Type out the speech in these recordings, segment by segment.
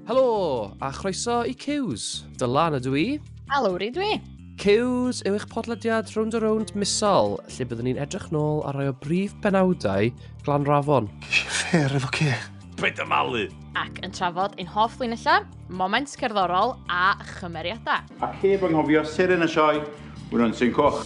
Helo, a chroeso i Cews. Dylan ydw i. A Lowri dwi. Cews yw eich podlediad Round a Round misol, lle byddwn ni'n edrych nôl ar rai o brif benawdau Glan Rafon. Fair efo ce. Paid â malu! Ac yn trafod ein hoff linellau, moments cerddorol a chymeriadau. Ac heb anghofio seren y sioe, Wynon Syn Coch.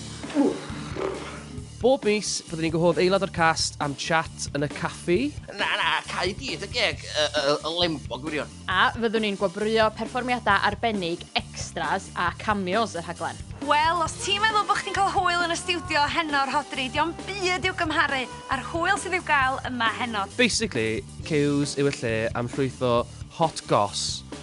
Bob mis, byddwn ni'n gwahodd aelod o'r cast am chat yn y caffi. Na, na, cau dydd y geg, y lembo gwirion. A fyddwn ni'n gwobrwyo perfformiadau arbennig, extras a cameos y rhaglen. Wel, os ti'n meddwl bod chdi'n cael hwyl yn y stiwdio heno, Rhodri, dio'm byd i'w gymharu â'r hwyl sydd i'w gael yma heno. Basically, Cews yw y lle am llwyth o hot goss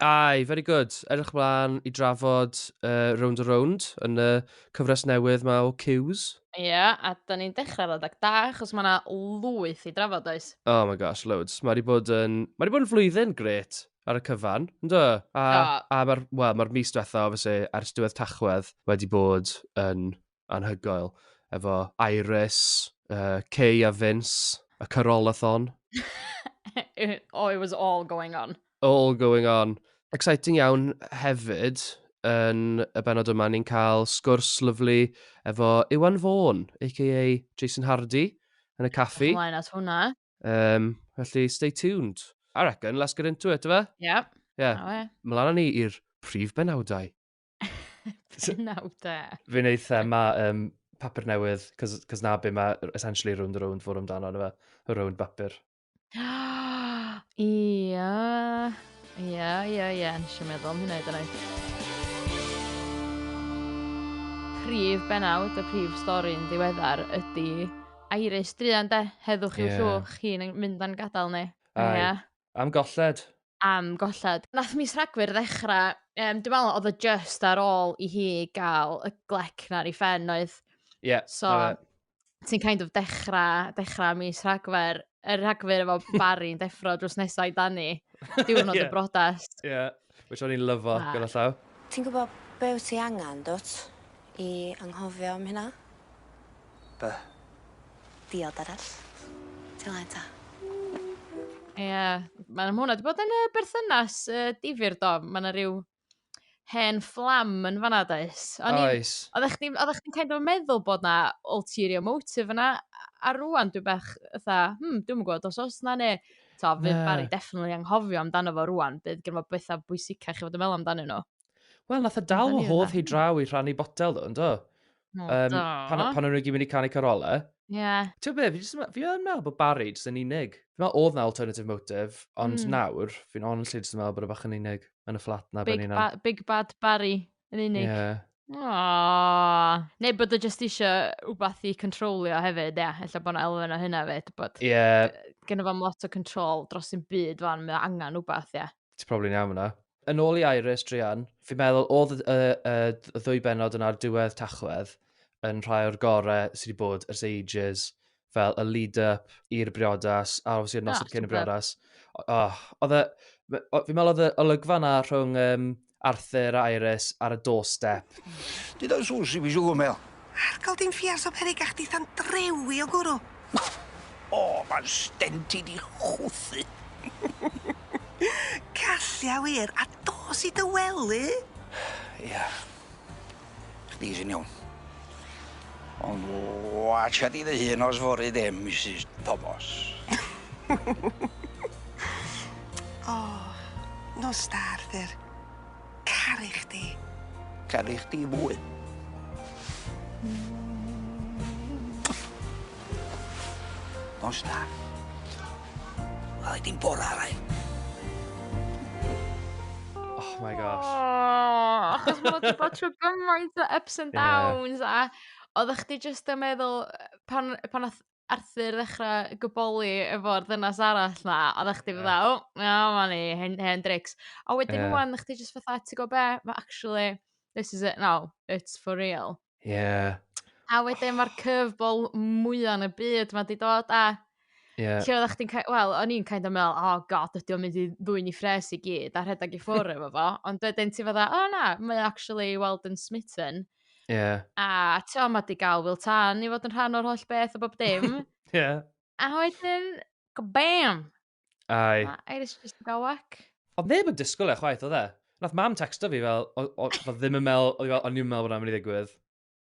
Aye, very good. Edrych ymlaen i drafod uh, Round a Round yn y cyfres newydd mae o Q's. Ie, yeah, a da ni'n dechrau roedd ag da, achos mae yna lwyth i drafod oes. Oh my gosh, loads. Mae wedi bod yn, mae wedi bod yn flwyddyn gret ar y cyfan, yn do? A, oh. a mae'r well, ma mis diwetha, obviously, ers diwedd tachwedd, wedi bod yn anhygoel, efo Iris, uh, Kay a Vince, y Carolathon. oh, it was all going on. All going on. Exciting iawn hefyd, yn y benod yma, ni'n cael sgwrs lyflu efo Iwan Fawn, a.k.a Jason Hardy, yn y caffi. Ymlaen at hwnna. Um, felly, stay tuned. I reckon, let's get into it, yma? Yep. Yeah. Oh, yeah. Mlaen ni i'r prif benawdau. Pennawd e. Fi'n eitha, mae um, papur newydd, cos, cos na be mae essentially round the round fod amdano, na fe, y round bapur. Ia, ia, ia, ia, nes i meddwl am hynna i dyna. Prif benawd, y prif stori'n ddiweddar ydy Iris Drian de, heddwch i'w yeah. llwch, chi'n mynd yn gadael ni. Ia. Am golled. Am golled. Nath mis Rhagfyr ddechra yym dwi me'wl odd o jyst ar ôl i hi ga'l y glec 'na ar 'i phen oedd? Ie. So ti'n kind of dechra dechra mis Rhagfyr yy Rhagfyr efo Bari yn deffro drws nesa i Dani. Diwrnod y brodas. Ie. Which o'n i'n lyfo ah. gyda llaw. Ti'n gwybod be wyt ti angen, dwt? I anghofio am hynna? Be? Diod arall. Ti'n lai ta? Ie, yeah. mae'n hwnna. Di bod yn y berthynas uh, difyr do. Mae yna rhyw hen fflam yn fanna, does? Oes. Oeddech chdi'n kind of meddwl bod na ulterior motive yna, a rwan dwi'n bach, ytha, hmm, dwi'n gwybod, os oes na neu to, fydd yeah. Barry definitely anghofio amdano fo rwan, bydd gen fo bethau bwysicach i fod yn meddwl amdano nhw. Wel, nath y dal o hodd hi draw i rhannu botel ddo, ynddo? No, um, do. Pan, pan o'n nhw'n gyd mynd i canu carolau. Ie. Yeah. Ti'n beth, fi, just, fi yn meddwl bod Barry jyst yn unig. Fi'n meddwl oedd na alternative motive, ond mm. nawr, fi'n honestly jyst yn meddwl bod y e bach yn unig yn y fflat na big, ba big Bad Barry. yn unig. Ie. Yeah. Aww. Neu bod o just eisiau rhywbeth i controlio hefyd, ia. Yeah. Ella bod yna elfen o hynna fe, bod... Ie. Yeah. Gynna fo'n lot o control dros un byd fan, mae angen rhywbeth, ia. Yeah. Ti'n probably iawn yna. Yn ôl i Iris, Drian, fi'n meddwl oedd y, y, y, y ddwy benod yna'r diwedd tachwedd yn rhai o'r gorau sydd wedi bod ers ages. fel y lead-up i'r briodas, a obviously y noson cyn y briodas. Oh, oedd e, fi'n meddwl oedd y olygfa na rhwng um, Arthur a Iris ar y doorstep. Did I sŵs i fi siw gymel? Argal dim ffiars o perig a chdi than drewi o gwrw. O, oh, mae'n stenti di chwthu. Callia wir, a dos i dy wely. Ia. Yeah. Chdi sy'n iawn. Ond watcha di dy hun os fory de, Misus Tomos. O, nos da, Arthur. Caru chdi. Caru chdi fwy. Nos da. Wel i di'n bora rai. Oh my gosh. Oh, achos mae wedi bod trwy gymaint o ups and downs yeah. a oeddech chdi jyst yn meddwl pan, pan oedd Arthur ddechrau gyboli efo'r ddynas arall na, a ddech chdi fydda, o, na, ma ni, hen, hen drics. A wedyn yeah. rwan, chdi jyst fatha, ti go be, ma actually, this is it now, it's for real. Ie. A wedyn ma'r curveball mwya yn y byd 'ma 'di dod a... Ie. ...lle oddach chdi'n kin- wel o'n i'n kind of me'wl oh God ydi o'n mynd i ddwyn 'i phrês i gyd a rhedag i ffwr' efo fo ond wedyn ti fatha o na mae o actually weld yn smitten. Ie. A t'o' ma' 'di ga'l Wil Tân i fod yn rhan o'r holl beth a bob dim. Ie. A wedyn kabam! Ai. Na, Iris just yn gael whack. Oedd neb yn disgwyl e chwaith, oedd e? Nath mam texto fi fel, oedd ddim yn mel, oedd o'n i'n mel bod mynd i ddigwydd.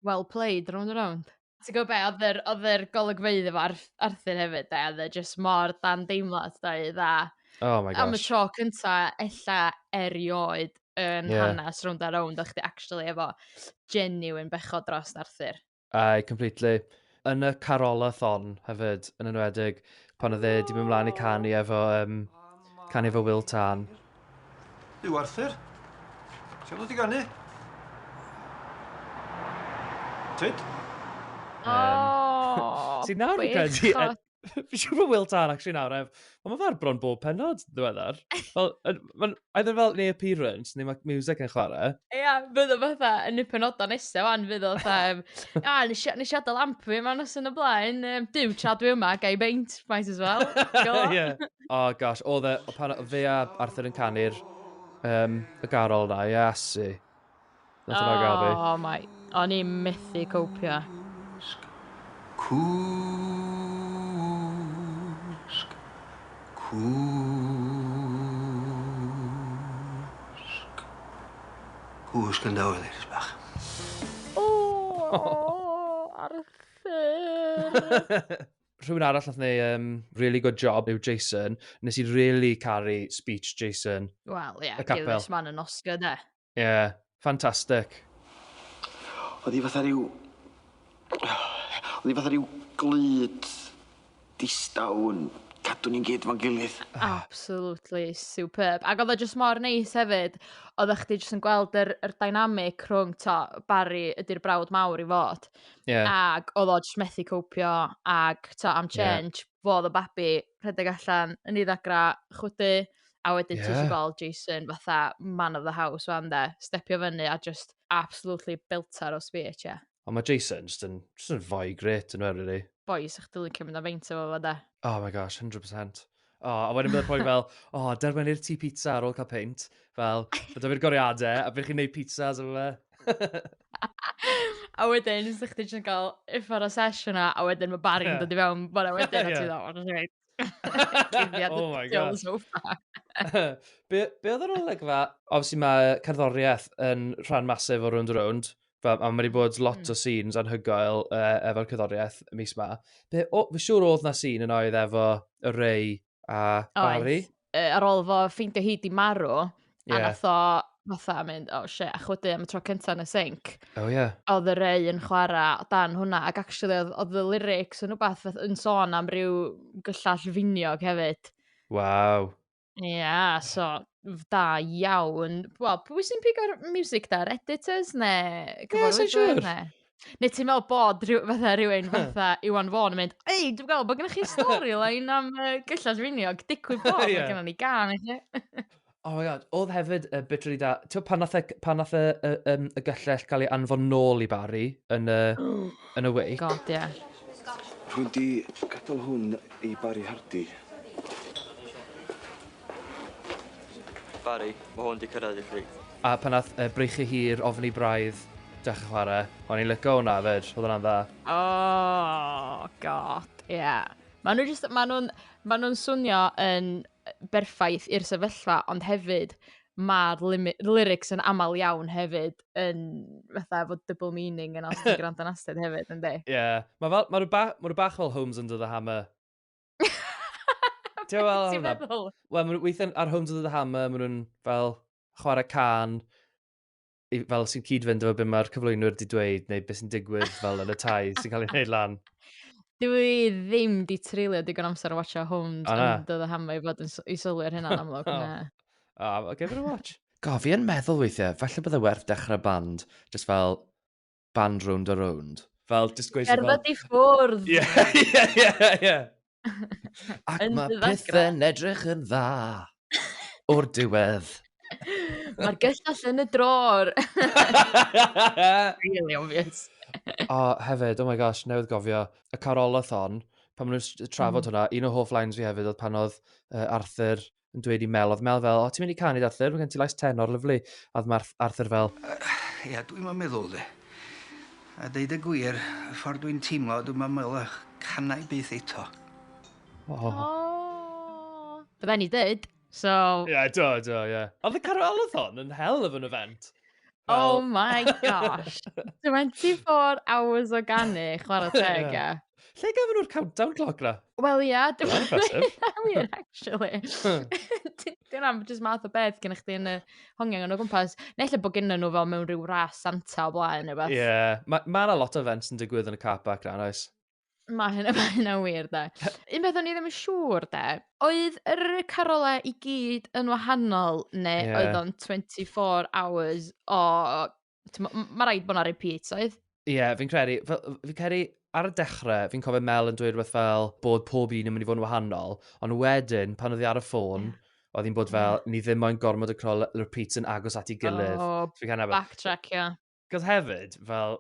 Well played, round and round. Ti'n gwybod be, oedd yr, oedd yr golygfeydd efo Arthur hefyd, da, oedd e just mor dan deimlad, da, i dda. Oh my gosh. Am y tro cynta, ella erioed yn yeah. hanes round a round, o'ch chdi actually efo genuine bechod dros Arthur. Aye, completely. Yn y carolathon hefyd, yn enwedig, pan oedd e di mynd mlaen i canu efo, um, canu efo Will Tan. Yw Arthur? Ti'n dod i ganu? Tyd? Um, oh, Sy'n nawr yn credu... Fi siŵr bod Will Tal actually nawr ef. Ond mae fe'r bron bob penod ddiweddar. Fel, mae'n either fel neu appearance neu mae music yn chwarae. Ia, yeah, bydd o fatha yn y penodau nesaf wan, fydd o fatha, a, nes i adael amp fi yma nos yn y blaen, um, dim tra dwi yma, gai beint, might as well. yeah. Oh gosh, o dde, o pan fe a Arthur yn canu'r um, y garol na, iasu. Nath hwnna gael fi. Oh my, o'n i methu copio. Cwsg, cwsg. Cwsg yn dawel, Iris bach. O, Arthur! Rhywun arall nath neu um, really good job yw Jason. Nes i really caru speech Jason. Wel, ie, yeah, Gilbert man yn Oscar, de. Ie, ffantastig. Oedd hi fatha rhyw... Oedd hi fatha rhyw glud distaw yn cadw ni'n gyd fo'n gilydd. Ah. Absolutely superb. Ac oedd o jyst mor neis hefyd, oedd chdi jyst yn gweld yr, yr dynamic rhwng to, Barry ydy'r brawd mawr i fod. Yeah. Ac oedd o jyst methu copio ac to, am change, yeah. fo oedd y babi, rhedeg allan, yn ei ddagra, chwydu, a wedyn yeah. ti'n gweld Jason fatha man of the house fan de, stepio fyny a just absolutely beltar o speech, ie. Yeah. Ond mae Jason just yn, just yn fwy gret yn o'r really. Boys, ych dilyn cymryd am feint efo fo de. Oh my gosh, 100%. O, oh, a wedyn byddai'r poi fel, o, oh, derwen i'r ti pizza ar ôl cael peint. Fel, byddai fi'r goriadau, a byddai chi'n neud pizzas efo fe. a wedyn, so chdi jyst yn cael uffar o sesh yna, a wedyn mae Barry'n yeah. dod i fewn bod e wedyn, a ti dda, o'n i'n rhaid. Oh my god. So be, be oedd yr olygfa? Obviously mae cerddoriaeth yn rhan masif o Round Round. Fe, a mae wedi bod hmm. lot mm. o scenes anhygoel uh, efo'r cyddoriaeth mis ma. Be, o, fy siŵr oedd na scene yn oedd efo y rei a Barry. Oedd, uh, ar ôl fo ffeindio hi di marw, yeah. a nath o fatha mynd, oh shit, a chwydu am y tro cyntaf yn y sink. Oh yeah. Oedd y rei yn chwarae o dan hwnna, ac actually oedd, oedd y lyrics yn rhywbeth fath yn sôn am ryw gyllall finiog hefyd. Waw. Ia, yeah, so da iawn. Wel, pwy sy'n pigo'r music da? Editors neu cyfarwyddwyr? Ie, yeah, sy'n siŵr. Neu ti'n meddwl bod rhyw, fatha rhywun fatha Iwan Fawn yn mynd, ei, dwi'n meddwl bod gennych chi storyline am uh, gyllall finiog, digwydd bod, yeah. mae gennym ni gan i chi. Oh my god, oedd hefyd y uh, bit really da. Ti'n pan nath, e, pan nath y, y, um, y gyllell gael ei anfon nôl i Barry yn y, oh. yn y wake? God, ie. Yeah. Rwy'n di gadael hwn i Barry Hardy. Barry, ma hwn di cyrraedd i chdi. A pan nath yy breichu hi i'r ofni braidd, dechra chware. O'n i'n lico hwnna fyd, odd hwnna'n dda. Oh God, ie. Ma nhw jyst, ma nhw'n, ma nhw'n swnio yn berffaith i'r sefyllfa ond hefyd ma'r limi- lyrics yn amal iawn hefyd yn fatha efo double meaning yna os ti'n gwrando yn astud hefyd yndi? Ie. Ma fel, ma nhw ba- ma nhw bach fel Homes Under The Hammer. Ti'n meddwl hwnna? Ti'n meddwl? Wel, weithiau ar Homes of the Hammer, maen nhw'n fel chwarae can, fel sy'n cyd-fynd efo beth mae'r cyflwynwyr wedi dweud, neu beth sy'n digwydd fel yn y tai sy'n cael ei wneud lan. Dwi ddim di treulio digon amser o watcha Homes oh, and the Hammer i fod yn i sylwi ar hynna'n amlwg. oh. oh, give it a watch. Go, fi yn meddwl weithiau, falle bydde werth dechrau band, just fel band rownd a rownd. Fel, just gweithio fel... Cerdded i ffwrdd! Ie, ie, ie, ie. Ac mae pethau'n edrych yn dda o'r diwedd. Mae'r gyllall yn y dror. really obvious. o, hefyd, oh my gosh, newydd gofio, y carolathon, pan maen nhw'n trafod mm. hwnna, un o hoff lines fi hefyd oedd pan oedd uh, Arthur yn dweud i Mel, oedd Mel fel, o, ti'n mynd i canu Arthur, mae gen ti lais tenor, lyflu. A oedd Marth, Arthur fel... Ia, uh, dwi'n meddwl de. A deud y gwir, y ffordd dwi'n teimlo, dwi'n meddwl eich canau byth eto. Oh. oh. Bydden ni dweud, so... Ie, yeah, do, do, ie. Yeah. Oedd y carwalathon yn hell of an event. Well... Oh my gosh. 24 hours o ganu, chwarae teg, yeah. Lle gafon nhw'r countdown clock na? Wel ia, dim yn wir, actually. Dwi'n am just math o beth gen i chdi yn y hongiang yn o gwmpas. Neu lle bod gen nhw fel mewn rhyw ras Santa o blaen neu beth. Ie, yeah. mae ma yna lot o events yn digwydd yn y car park na, oes? Mae hynna, mae hynna wir, da. Un beth o'n i ddim yn siŵr, da. Oedd yr carolau i gyd yn wahanol, neu yeah. oedd o'n 24 hours o Mae rhaid bod yna repeat, oedd? Ie, yeah, fi'n credu, fi'n credu ar y dechrau, fi'n cofio Mel yn dweud rhywbeth fel bod pob un yn mynd i fod yn wahanol, ond wedyn, pan oedd hi ar y ffôn, yeah. oedd hi'n bod fel, yeah. ni ddim moyn gormod o crol repeats yn agos at ei gilydd. Oh, backtrack, ie. Yeah. Cos hefyd, fel,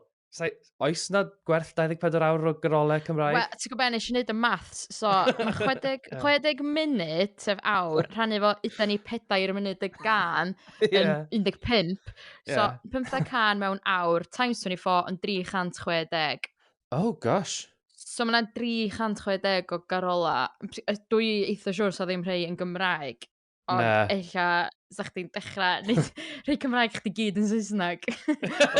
oes na gwerth 24 awr o garolau Cymraeg? Wel, ti'n gwybod, nes i wneud y maths, so mae 60, 60 munud, sef awr, rhannu fo yda ni pedair munud y gan yn 15. So, yeah. 15 can mewn awr, times 24 yn 360. Oh, gosh. So mae yna 360 o garola. Dwi eitha siwr sa ddim rhai yn Gymraeg. Ond Na. ella, sa chdi'n dechrau neud rhai Cymraeg chdi gyd yn Saesneg.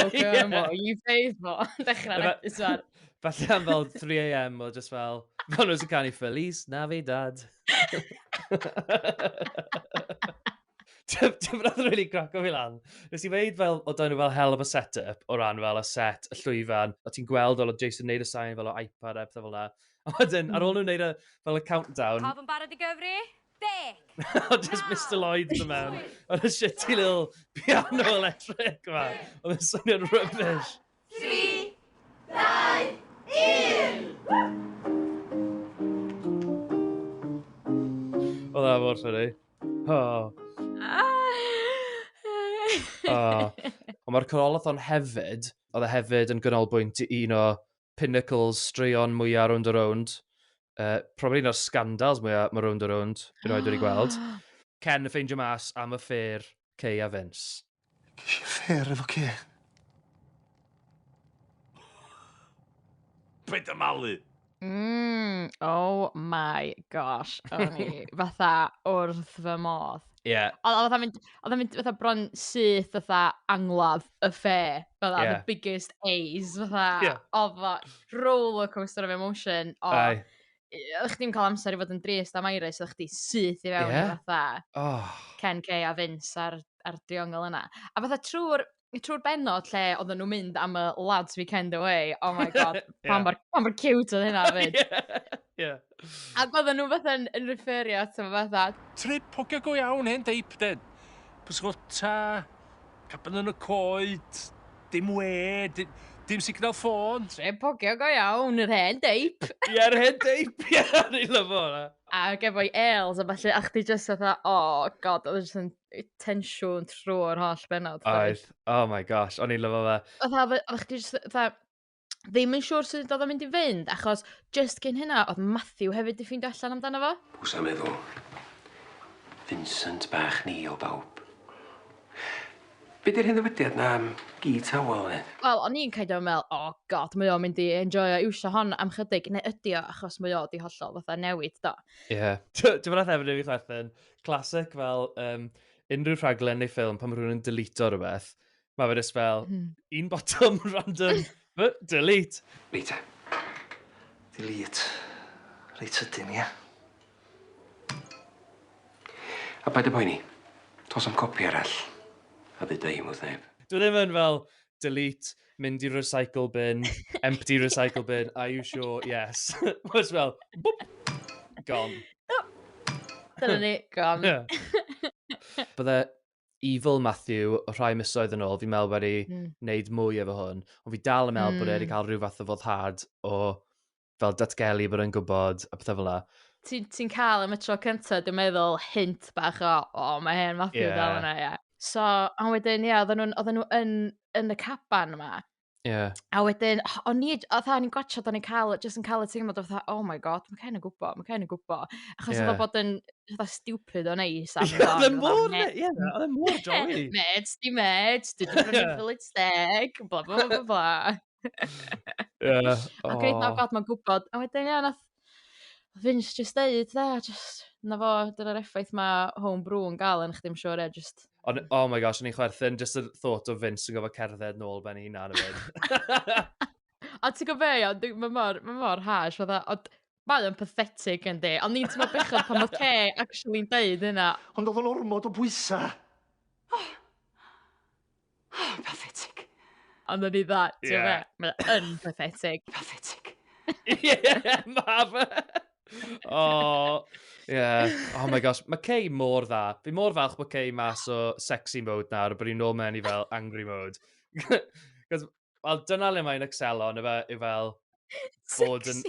OK, mo, you faith mo. Dechrau Yma- neud swan. Falle am fel 3am o just fel, fel nhw sy'n canu Feliz Navidad. Ti'n rhaid really craco fi lan. Nes i weid fel, o dan nhw fel hell of a set-up o ran fel y set, y llwyfan, o ti'n gweld fel o Jason neud y sain fel o iPad a pethau fel la. A wedyn, ar ôl nhw'n neud y, fel y countdown, Pawb yn barod i gyfri? Bec! Oedd just Mister Lloyd yn mewn. Oedd y shitty little piano electric yma. Oedd yn swnio'n rubbish. 3, 2, 1! Oedd e mor ffynnu. Oh. oh. Ond mae'r corolathon hefyd, oedd e hefyd yn gynolbwynt i un o pinnacles straeon mwyaf rownd o rownd. Uh, probably un o'r scandals mwyaf mae rownd o rownd yn oed wedi gweld. Ken y ffeindio mas am y ffair Cei a Vince. Ges i ffair efo Cei. Be dy malu? Mm, oh my gosh. O'n i fatha wrth fy modd. Ie. Yeah. Oedd o'n mynd, oedd o'n mynd fatha bron syth fatha angladd y fair, fel yeah. the biggest A's, fatha, yeah. o, fatha, roller coaster of emotion, o, Aye. Ych chi'n cael amser i fod yn drist am Iris, ych chi syth i fewn yeah. fatha oh. Ken Kay a Vince a'r, ar driongl yna. A fatha trwy'r trwy'r benod lle oedden nhw'n mynd am y lads weekend away, oh my god, yeah. pan mor cute oedd hynna fyd. yeah. Ie. Ac oedden nhw fatha yn, yn referio ato fo fatha. Trip hogia go iawn hen deip den. Pysgota, cabin yn y coed, dim we, dim, dim signal ffôn. Trip hogia go iawn, yr hen deip. Ie, yr hen deip, ie, ni lyfo hwnna. Ac efo'i ales a falle, a chdi just fatha, oh god, oedd e jyst yn tensiwn trwy'r holl benod. Oedd, oh my gosh, o'n i'n lyfo fe. Oedd, oedd chdi just fatha, ddim yn siŵr sut oedd o'n mynd i fynd, achos just gyn hynna, oedd Matthew hefyd di ffeindio allan amdano fo. Pws am meddwl. Vincent bach ni o bawb. Be di'r hyn ddywydiad na am gi tawel fe? Wel, o'n i'n kind of meddwl, oh god, mae o'n mynd i enjoy o iwsio hon am chydig, neu ydi o, achos mae o di hollol fatha newid, do. Ie. Yeah. Dwi'n meddwl hefyd i fi chwerthin, classic fel um, unrhyw rhaglen neu ffilm pan mae rhywun yn delito rhywbeth, Mae fe just fel, hmm. un bottom random, but delete. Ni te. Delete. Reit sydyn, ia? A paid y poeni. Tos am copi arall. A ddeud ei mwth neb. Dwi ddim yn fel delete, mynd i recycle bin, empty recycle bin, are you sure? Yes. Mae'n fel, boop, gone. Dyna ni, gone. Bydde Evil Matthew, rhai misoedd yn ôl, fi'n meddwl wedi mm. wneud mwy efo hwn, ond fi dal yn meddwl mm. bod e wedi hmm. cael rhyw fath o foddhad o fel datgelu bod e'n gwybod a pethau fel la. Ti'n ti cael am y tro cyntaf, dwi'n meddwl, hint bach o, o, oh, mae hen Matthew yeah. dal yna, ie. Yeah. So, a wedyn, ie, yeah, oedden nhw'n nhw yn, yn y caban yma, Yeah. A wedyn, o'n i, oedd o'n i'n gwachod, o'n i'n cael, jyst yn cael y teimlad oedd, oh my god, mae Ken yn gwybod, mae Ken yn gwybod. Achos yeah. oedd bod yn, oedd stupid o'n ei sam. Oedd yn mor, ie, oedd yn mor jolly. Meds, di meds, di dwi'n rhywun village deg, bla bla bla bla. yeah. Ac oedd, oh god, mae'n gwybod. A wedyn, ie, nath, Fin's jyst deud 'de jyst 'na fo dyna'r effaith ma' home brew yn ga'l arnoch chdi I'm sure ie jyst... O'n oh my gosh o'n i'n chwerthin jyst y thought o Vince yn gorfod cerdded nôl ben 'i hunan yn mynd. Ond ti'n gwybod be' iawn dwi ma' mor ma' mor harsh fatha ond mae o'n pathetic yndi ond ni'n teimlo bechod pan ma' Kay actually'n deud hynna. Ond odd o'n ormod o bwysa'. Oh, pathetic. Ond ydy dda, ti'n yeah. fe? Mae yn pathetic. Pathetic. yeah, ma fe. oh, yeah. Oh my gosh, mae Kay mor dda. Fi mor falch bod Kay mas o sexy mode nawr, bod ni'n nôl mewn i fel angry mode. Cos Wel, dyna le mae'n excelo, na fe, yw fel... bod yn...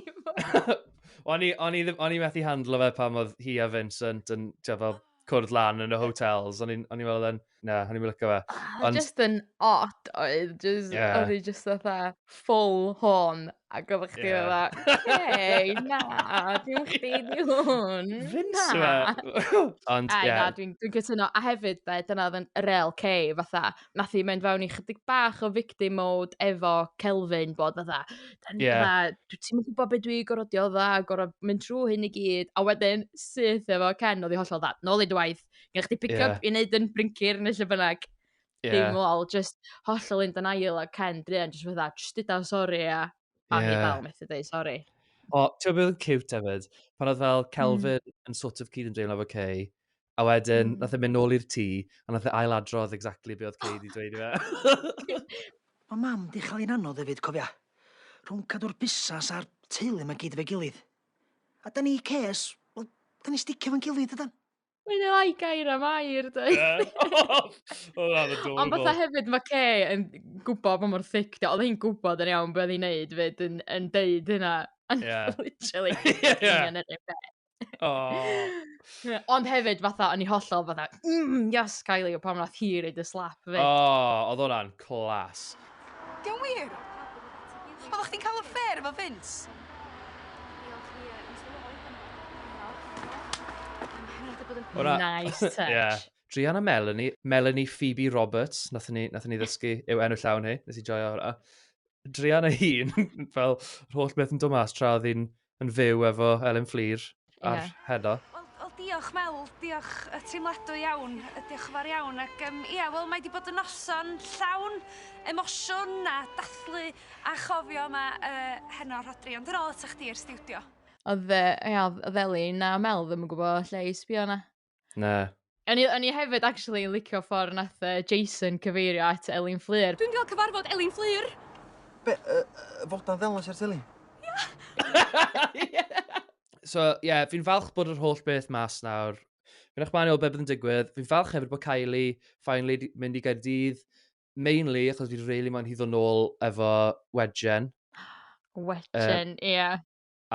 o'n i, o'n i, o'n i methu handlo fe pan oedd hi a Vincent yn, ti'n fel, ah. cwrdd lan yn y hotels. O'n i'n meddwl yn, na, o'n i'n meddwl fe. Ah, Ond... just yn odd oedd, just, yeah. o'n i just fatha full horn A gofod chdi yeah. fatha, hei, na, dim chdi di hwn. Na. Ond, ie. Na, dwi'n dwi cytuno. A hefyd, be, dyna oedd yn rel C, fatha, nath i mynd fewn i chydig bach o victim mode efo Kelvin, bod fatha, yeah. fatha dwi ti'n mynd gwybod beth dwi gorfod dda, gorfod mynd trwy hyn i gyd, a wedyn syth efo Ken oedd i hollol dda, nôl i dy waith, gen chdi pick-up yeah. i wneud yn brincir neu lle bynnag. Ie. Dim lol jyst hollol in denial a Ken druan jyst fatha jyst duda sori a a o'n i dal methu deud sori. O, ti'n gwybod beth oedd cute hefyd? Pan oedd fel hmm. Kelvin mm. yn sort of cyd yn dreulio efo Kay, a wedyn mm. nath e mynd nôl i'r tŷ, a nath e ail adrodd exactly be oedd Kay wedi dweud i fe. Mae mam di chael un anodd hefyd, cofia. Rhwng cadw'r busas a'r teulu mae gyd efo'i gilydd. A da ni, Kes, wel, da ni sticio fo'n gilydd, ydan? Mae'n ei lai gair am air, dwi. Ond fatha hefyd, mae Kay yn gwybod pa mor thic di. Oedd hi'n gwybod yn iawn beth oedd hi'n neud fyd yn, yn deud hynna. Yeah. Literally. Ond hefyd, fatha, o'n i hollol fatha, mm, yes, Kylie, o pam nath hi reid y slap fyd. Oh, oedd hwnna'n clas. Di o'n wir? Oddach chdi'n cael affair efo Vince? Ora- Nice touch. Yeah. Drian a Melanie, Melanie Phoebe Roberts, nath ni, nath ni ddysgu yw enw llawn hi, nes i joio hwnna. Drian a hun, fel yr holl beth yn dod mas tra oedd hi'n yn fyw efo Elin Fflur ar Ie. heno. Wel, wel diolch Mel, diolch yy teimladwy iawn, yy diolch yn fawr iawn ac yym ia wel mae 'di bod yn noson llawn emosiwn a dathlu a chofio yma yy heno Rhodri ond yn ôl atoch chdi i'r stiwdio. Odd yy ia odd odd Elin a Mel ddim yn gwbo lle i sbïo na? Na. O'n i, o'n i hefyd actually yn licio ffordd nath uh, Jason cyfeirio at Elin Fflur. Dwi'n gael cyfarfod Elin Fflur. Be, uh, uh, fod na ddelas ar teli? so, ie, yeah, fi'n falch bod yr holl beth mas nawr. Fi'n eich manio beth bydd yn digwydd. Fi'n falch hefyd bod Kylie finally mynd i Gaerdydd. Mainly, achos fi'n really moyn hi ddod nôl efo Wedgen. Wedgen, ie. Uh, yeah.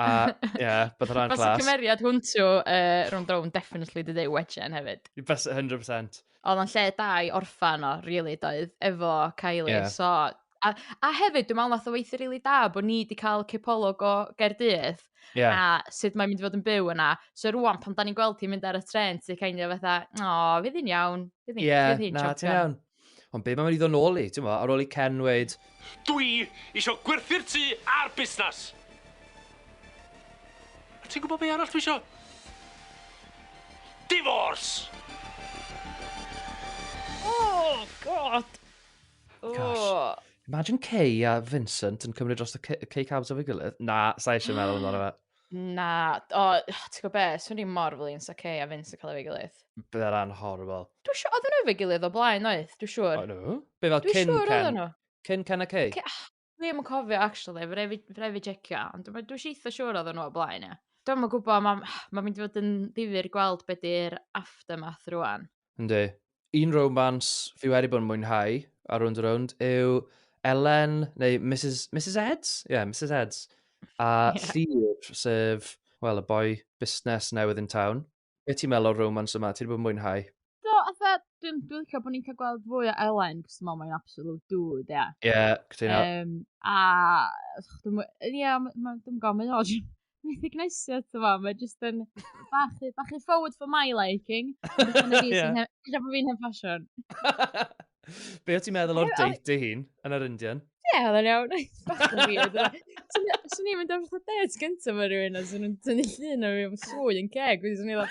A, ie, yeah, bydd hwnna'n class. Fas y cymeriad hwn to uh, rhwng drawn, definitely dyd ei wedgen hefyd. Bas 100%. Oedd o'n lle da i orffan o, really, doedd, efo Kylie. Yeah. So, a, a hefyd, dwi'n meddwl nath o weithio really da bod ni wedi cael cipolwg o Gerdydd. Yeah. A sut mae'n mynd i fod yn byw yna. So rwan, pan da ni'n gweld hi'n mynd ar y tren, ti'n kind of fatha, o, fydd hi'n iawn. Fydd hi'n yeah, na, ti'n iawn. Ond be mae'n mynd i ddod nôl i, ti'n mo, ar ôl i Ken weid... Dwi isio gwerthu'r tŷ a'r busnes! A ti'n gwybod be arall dwi isio? Divorce! Oh, God! Oh. Gosh. Imagine Kay a Vincent yn cymryd dros y Kay Cabs o'r gilydd. Na, sa'i eisiau meddwl amdano fe. Na, o, ti'n gwybod be, swn i'n mor flin sa Kay a Vince yn cael ei gilydd. Bydd e'n rhan horrible. Dwi'n siŵr, oedden nhw efo'i gilydd o blaen oedd, dwi'n siŵr. O nhw? Be fel Dwi'n cyn siŵr oedden Ken? nhw. Cyn Ken a Kay? Ke- ah, Dwi ddim yn cofio, actually, fe rhaid fi- fe rhaid fi jecio, ond dwi'n dwi eitha siŵr oedden nhw o blaen, ie. Dwi'n yn gwybod, mae'n ma mynd i fod yn ddifur gweld beth di'r aftermath rwan. Yndi. Un romance fi wedi bod yn mwynhau ar Rownd a Rownd yw Elen, neu Mrs, Mrs Eds? Ie, yeah, Mrs Eds. A yeah. Llyr, sef, wel, y boi busnes newydd yn town. Be ti'n meddwl o'r romance yma? Ti'n bod yn mwynhau? Do, atha, dwi'n dwi licio bod ni'n cael gweld fwy o Elen, cos dwi'n meddwl mae'n absolute dude, ie. Ie, cytuno. Um, a, dwi'n, ie, dwi'n gwybod, mae'n o, recognition, ti'n fawr, mae jyst yn bach, bach yn forward for my liking. Ie. Ella bod fi'n hen ffasiwn. Be o ti'n meddwl o'r date dy hun yn yr Indian? Ie, oedd yn iawn. Swn i'n mynd o'r fatha date gyntaf mae rhywun a swn i'n tynnu llun o fi am swy yn ceg. Swn i'n mynd,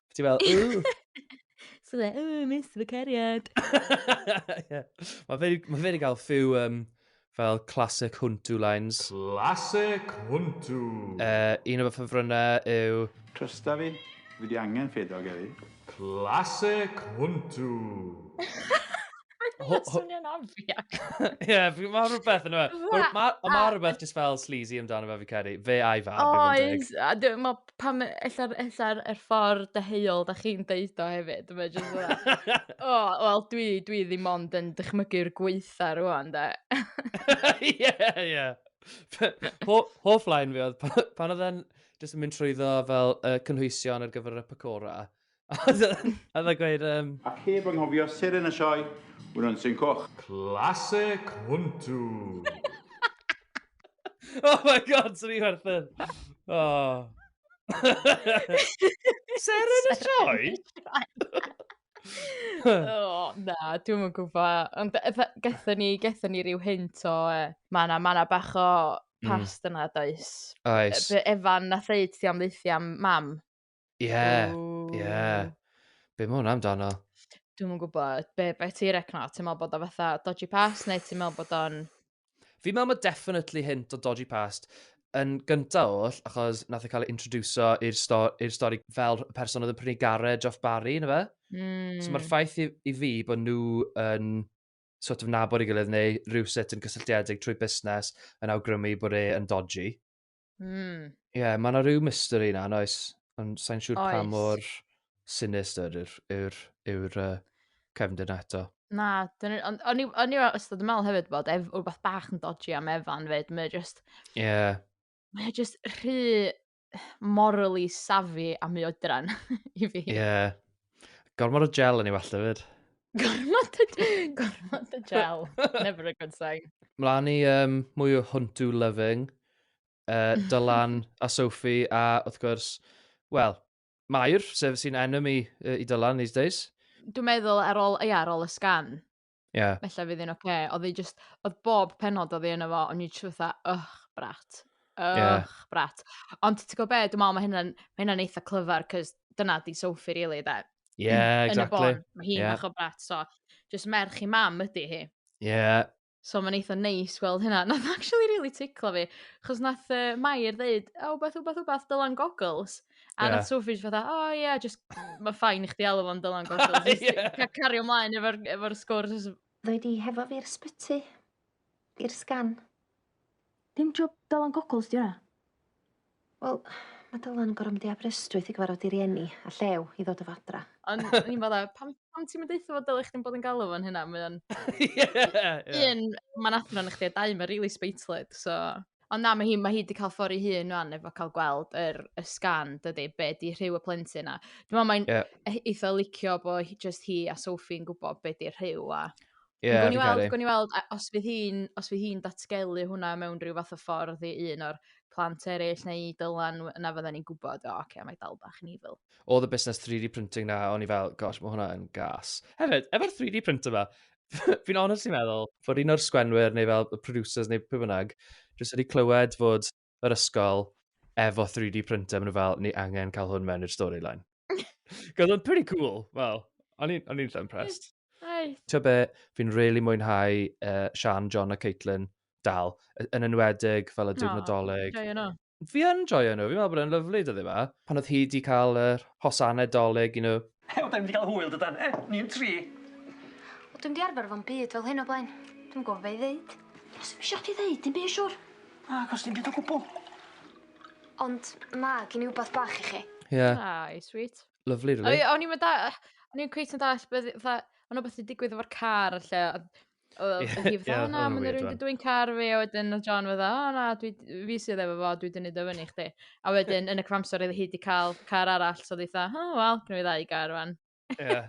Ti fel, ww! so dde, ww, mis fy cariad. yeah. Mae fe, ma fe wedi cael few um, fel classic huntu lines. Classic huntu! Uh, un o fy ffefrynnau yw... Trysta fi, fi di angen ffedog heddi. Classic huntu! Mae'n swnio'n obvious. Ie, mae rhywbeth yn yma. Ond mae rhywbeth just fel sleazy amdano fe fi credu. Fe a'i fab. Oes, a dwi'n meddwl pam ella'r ella'r er ffordd deheuol da chi'n deud o hefyd. Mae just fel, o, wel dwi, dwi ddim ond yn dychmygu'r gweitha rwan da. Ie, ie. Hoff lain fi oedd pan oedd e'n just yn mynd trwyddo fel uh, cynhwysion ar gyfer y pacora. Oedd a gweud... Um... Ac heb anghofio seren y sioe, Wnon sy'n coch. Clase cwntw! oh my god, swn i werthyn. Oh. seren y sioe? oh, na, dwi'n mwyn gwybod. Ond gatho ni, gatho ni rhyw hint o, e, ma na, ma na bach o hmm. past mm. yna, does? Oes. Efan na ddeud ti am ddeithio am mam. Ie, ie. Ww. Be mae hwnna amdano? Dwi'm yn gwybod. Be, be ti recno? Ti'n meddwl bod o fatha dodgy past neu ti'n meddwl bod o'n... Fi'n meddwl mae definitely hint o dodgy past yn gynta oll, achos nath e cael ei introduso i'r sto i'r stori fel y person oedd yn prynu garej off Barry, na fe? Mm. So mae'r ffaith i, i fi bod nhw yn sort of nabod ei gilydd neu rhywsut yn cysylltiedig trwy busnes yn awgrymu bod e yn dodgy. Mm. Ie, yeah, mae yna rhyw mystery yna, yn oes? Ond sa'n siŵr pa mor sinister yw'r yw yw uh, cefndir na eto. Na, ond o'n i o'n i wastad yn meddwl hefyd bod ef, rhywbeth bach yn dodgy am Evan fyd, mae just... Ie. Yeah. Mae just rhy morally savvy a mi oedran i fi. Ie. Yeah. Gormod o gel yn ei wallt hefyd. Gormod y... Gormod y gel. Never a good sign. Mlaen i um, mwy o Huntu Loving, uh, Dylan a Sophie, a wrth gwrs, wel, Mair, sef sy'n enemy uh, i Dylan these days. Dwi'n meddwl ar ôl, ia, ar ôl y sgan, yeah. felly fydd yn oce. Okay. Oedd ei just, oedd bob penod oedd ei yna fo, ond ni'n siwtha, ych, brat. Ych, yeah. brat. Ond ti'n gwybod be, dwi'n meddwl mae hynna'n hynna eitha clyfar, cys dyna di Sophie, really, da. Ie, yeah, exactly. Yn y bôn, mae hi'n yeah. fach o brat, so just merch i mam ydy hi. Ie. Yeah. So mae'n eitha neis gweld hynna. Nath actually really tickle fi. Chos nath uh, Mair ddeud, o, oh, beth, beth, beth, dylan goggles. A yeah. nath Sophie just fatha, o oh, ie, yeah, just, mae ffain i chdi alw fo'n dylan goggles. yeah. Cario ymlaen efo'r efo sgwrs. Ddoi di hefo fi'r sbyty, i'r sgan. Dim job Dylan Goggles 'di wnna. Wel, mae Dylan yn gorfod mynd i Aberystwyth i gyfarfod ei rieni a Llew i ddod o fadra. Ond o'n i'n meddwl, pam, pam ti'n mynd eitha fod dylech chdi'n bod yn galw fo'n hynna? Mae o'n... Un, mae'n athron i chdi, a dau, mae'n really speithlyd, so... Ond na, mae hi, mae hi wedi cael ffordd ei hun rwan efo cael gweld yr, y sgan, dydy, be di rhyw y plentyn a... Dwi'n meddwl mae'n yeah. eitha licio bod just hi a Sophie'n gwybod be di rhyw a... Ie, yeah, fi'n caru. Gwni weld, os fydd hi'n hi, hi datgelu hwnna mewn rhyw fath o ffordd i un o'r plant eraill neu dylan yna fydden ni'n gwybod, o, oh, oce, okay, mae dal bach yn evil. O, the business 3D printing na, o'n i fel, gosh, mae hwnna yn gas. Hefyd, efo'r 3D printer yma, fi'n honestly meddwl fod un o'r sgwenwyr neu fel y producers neu pwy bynnag, jyst wedi clywed fod yr ysgol efo 3D printer, maen nhw fel, ni angen cael hwn mewn i'r storyline. Gwyd o'n pretty cool, wel, o'n i'n eitha impressed. Ti'n be, fi'n really mwynhau uh, Sian, John a Caitlin dal, yn enwedig fel y diwrnodoleg. No, joio nhw. Fi yn joio nhw, fi'n meddwl bod e'n lyflu dyddi yma. Pan oedd hi wedi cael yr hosanau doleg, you know, Hei, wel 'dan ni'm 'di ga'l hwyl dydan? E? Ni yn tri. Wel dwi'm 'di arfer efo'm byd fel hyn o blaen. Dwi'm yn gwbo be' i ddeud. Do's dim isio chdi ddeud dim by' siŵr. Na acos dim byd o gwbwl. Ond ma' gin i wbath bach i chi. Ie. Aw i sweet. Lyfli rili. O'n i o'n i'm yn da- o'n i 'im cweit yn dallt be' o'dd 'i fatha ma' 'na wbath 'di digwydd efo'r car a lle a Oedd y hi fatha, o na, mae'n rhywun wedi dwy'n car fi, a wedyn oedd John fatha, o na, dwi, fi sydd efo fo, dwi wedi nid o fyny chdi. A wedyn, yn y cyfamser, oedd hi wedi cael car arall, so oedd hi fatha, o, wel, gynnu fi ddau gar fan. Ie,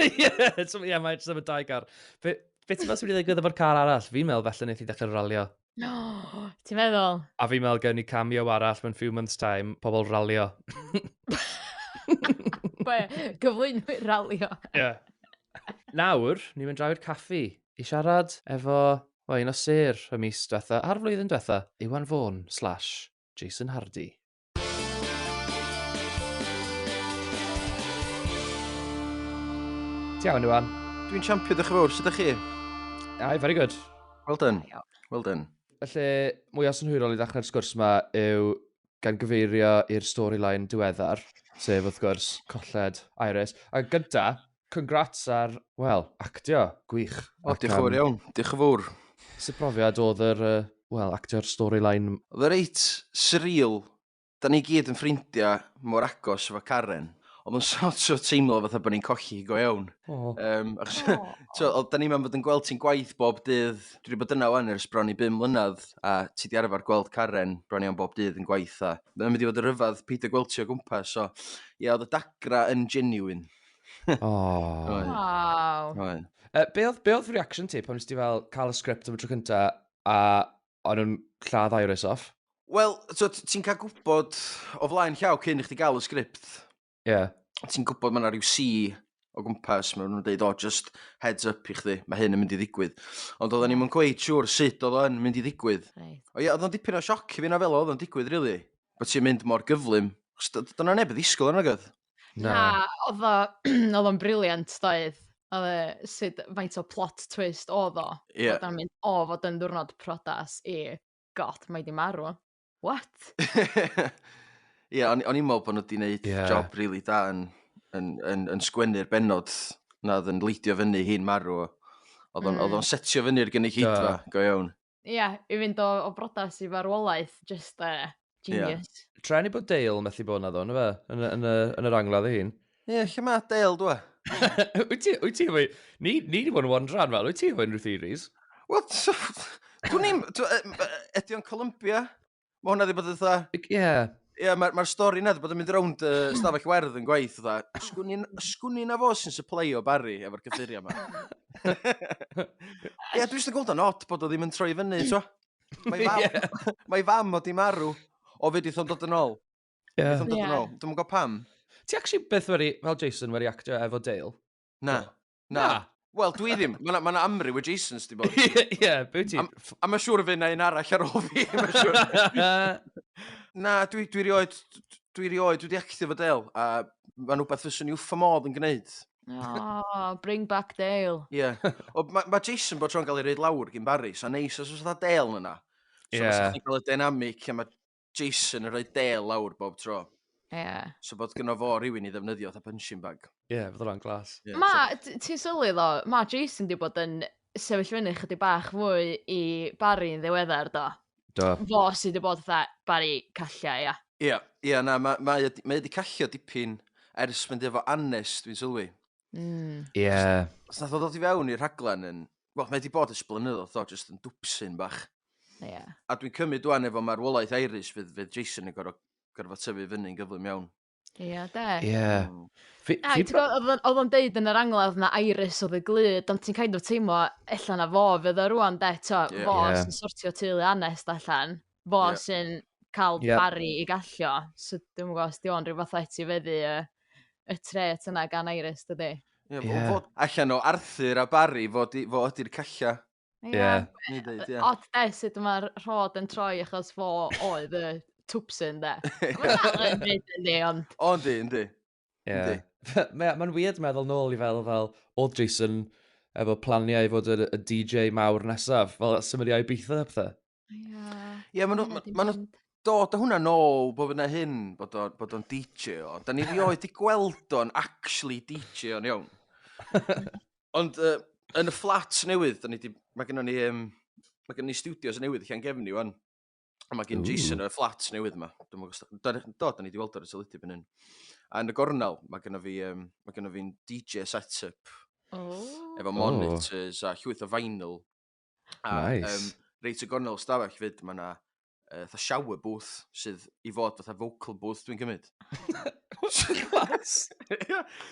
ie, so, ie, mae jyst efo dau gar. Be, be ti'n meddwl sy'n wedi ddigwydd efo'r car arall? Fi'n meddwl felly wneud i ddechrau ralio. No! Ti'n meddwl? A fi'n meddwl gen i cameo arall mewn few months time, pobl ralio. Be? Gyflwynwyr ralio? Ie. Yeah. Nawr, ni'n mynd draw i'r caffi i siarad efo, wel, un o sêr y mis diwetha, a'r flwyddyn diwetha, Iwan Fôn slash Jason Hardy. Iawn, Iwan. Dwi'n champion, ddech chi fawr, sut ydych chi? Ai, very good. Well done, well done. Felly, mwy o synhwyrol i ddechrau'r sgwrs yma yw gan gyfeirio i'r storyline diweddar, sef wrth gwrs colled Iris. A gyda, Congrats ar, wel, actio, gwych. O, diolch yn fawr iawn, diolch yn fawr. Sut brofiad oedd yr, wel, actio'r storyline? Oedd o reit surreal, da ni gyd yn ffrindiau mor agos efo Karen, oedd o'n sort of teimlo fatha bod ni'n colli hi go iawn. Um, achos, tio, oedd da ni'n meddwl bod yn gweld ti'n gwaith bob dydd, dwi wedi bod yna wan ers bron i bum mlynedd, a ti di arfer gweld Karen bron iawn bob dydd yn gwaith, a mae'n mynd i fod yn rhyfedd peidio gweld ti o gwmpas, so, ie, oedd y dagra yn genuine. Oh. Oedd. Waw. Oedd. Uh, be oedd, be oedd reaction ti pan nes ti fel cael y sgript am y tro cynta a o'n nhw'n lladd Iris off? Wel, so, t- ti'n cael gwybod o flaen llaw cyn i chdi gael y sgript. Ie. Yeah. Ti'n gwybod mae yna rhyw si o gwmpas, mae nhw'n dweud, o, just heads up i chdi, mae hyn yn mynd i ddigwydd. Ond oedden ni'n mynd gweud siwr sut oedd o'n mynd i ddigwydd. Right. O ie, oedd o'n dipyn o sioc i fi na fel oedd o'n digwydd, really. Bod ti'n mynd mor gyflym. Chos d- Dyna neb y ddisgwyl yna, gydd. Na. Na, odd o odd o'n brilliant doedd? Odd e sud faint o plot twist odd o... Ie. ...bod o'n mynd o fod yn ddiwrnod priodas i God mae 'di marw. What? Ie o'n i o'n i'n me'wl bo' nw 'di neud... Ie. ...job rili da yn yn yn yn sgwennu'r bennod 'na odd yn leidio fyny hi'n marw. Odd o'n... Hmm. ...odd o'n setio fyny'r gynulleidfa... Do. ...go iawn. ia i fynd o o brodas i farwolaeth jyst yy Ia. genius. Treni bod Dale methu bod naddo on' yfe? Yn y yn y yn yr angladd ei hun. Ie lle ma' Dale dw? Wyt ti wyt ti efo ni ni 'di bod yn wondro am fel wyt ti efo unrhyw theories? Wel so dwn i'm t'w- yy m- yy ydi o'n Columbia? Mae hwnna wedi bod yn dda. Ie. Yeah. Ie, yeah, mae'r ma stori yna wedi bod yn mynd rownd y uh, stafell werdd yn gwaith, dda. Sgwn i na fo sy'n supply o Barry efo'r cyffuriau yma. Ie, yeah, dwi'n eisiau gweld o'n od bod o ddim yn troi fyny, twa. Mae fam, yeah. mae fam o di marw o fyd i thon dod yn ôl. Ie. Yeah. Dod yn ôl. Dwi'n gwybod pam. Ti actually beth wedi, fel Jason, wedi actio efo Dale? Na. Na. Na. Wel, dwi ddim. Mae yna ma 'na amryw o Jasons di bod. Ie, ie, be wyt ti? Am- Ff- A mae siŵr y fe na un arall ar ôl fi. Mae'n siŵr. Na, dwi, dwi rioed, dwi rioed wedi actio fo Dale, a mae'n rhywbeth fyswn i wffa modd yn gwneud. Oh, bring back Dale. Ie. Yeah. O, mae ma Jason bod tro'n cael ei reid lawr gyn Barry, so neis os oes dda Dale yna. So Ie. yeah. chdi'n cael y dynamic, a mae Jason yn rhoi del lawr bob tro. Ie. Yeah. So bod gyno fo rhywun i ddefnyddio fatha punching bag. Ie, yeah, fyddo'n glas. Yeah, ma, so... ti'n sylwi ddo, ma Jason di bod yn sefyll fyny chydig bach fwy i Barry yn ddiweddar do. Do. Fo sydd di bod fatha Barry callia, ia. Ia, ia, na, mae ma, ma wedi callio dipyn ers mynd efo Annes, dwi'n sylwi. Mm. Yeah. Os nath o ddod i fewn i'r rhaglen yn... Wel, mae wedi bod ys blynyddoedd o, jyst yn dwpsyn bach. Yeah. A dwi'n cymryd dwi'n efo marwolaeth Iris fydd, fydd Jason yn gorfod, gorfod tyfu fyny'n gyflym iawn. Ie, yeah, de. Ie. Yeah. Mm. Fi, Ai, fi... Oedd o'n deud yn yr angladd na Iris oedd y glyd, ond ti'n kind of teimlo, ella na fo fydd o rwan, de, to, yeah. fo yeah. sy'n sortio teulu anest allan. fo yeah. sy'n cael yeah. bari i gallio. So dwi'n gwybod os di o'n rhyw fath o etifeddu y, y tret yna gan Iris, dydy. Ie, yeah, yeah. fod allan o Arthur a Barry, fo, di, fo ydy'r calla. Ie. Yeah. Yeah. Odd de, sut mae'r rhod yn troi achos fo oedd y twpsyn de. Mae'n dal yn byd yndi, ond... O, yndi, yndi. Ie. Mae'n weird meddwl nôl i fel, fel, oedd Jason efo planiau i fod y, y DJ mawr nesaf, fel symud i Ibiza a pethau. Ie, yeah, yeah, maen nhw, ma nhw dod o hwnna nôl bod yna hyn, bod o'n bod o DJ o. Da ni rioed i gweld o'n actually DJ o'n iawn. Ond uh, yn y fflat newydd, da ni di, mae gennym ni, um, mae gennym ni studios newydd lle yn gefn ni, wan. A mae gen Ooh. Jason y fflat newydd yma. Dwi'n meddwl os... Da, do, da ni wedi weld o'r teledu byn hyn. A yn y gornel, mae gen fi, um, mae gen fi'n DJ setup. Oh. Efo monitors oh. a llwyth o vinyl. A, nice. Um, reit y gornel stafell fyd, mae yna uh, fatha shower booth sydd i fod fatha vocal booth dwi'n gymryd. Clas!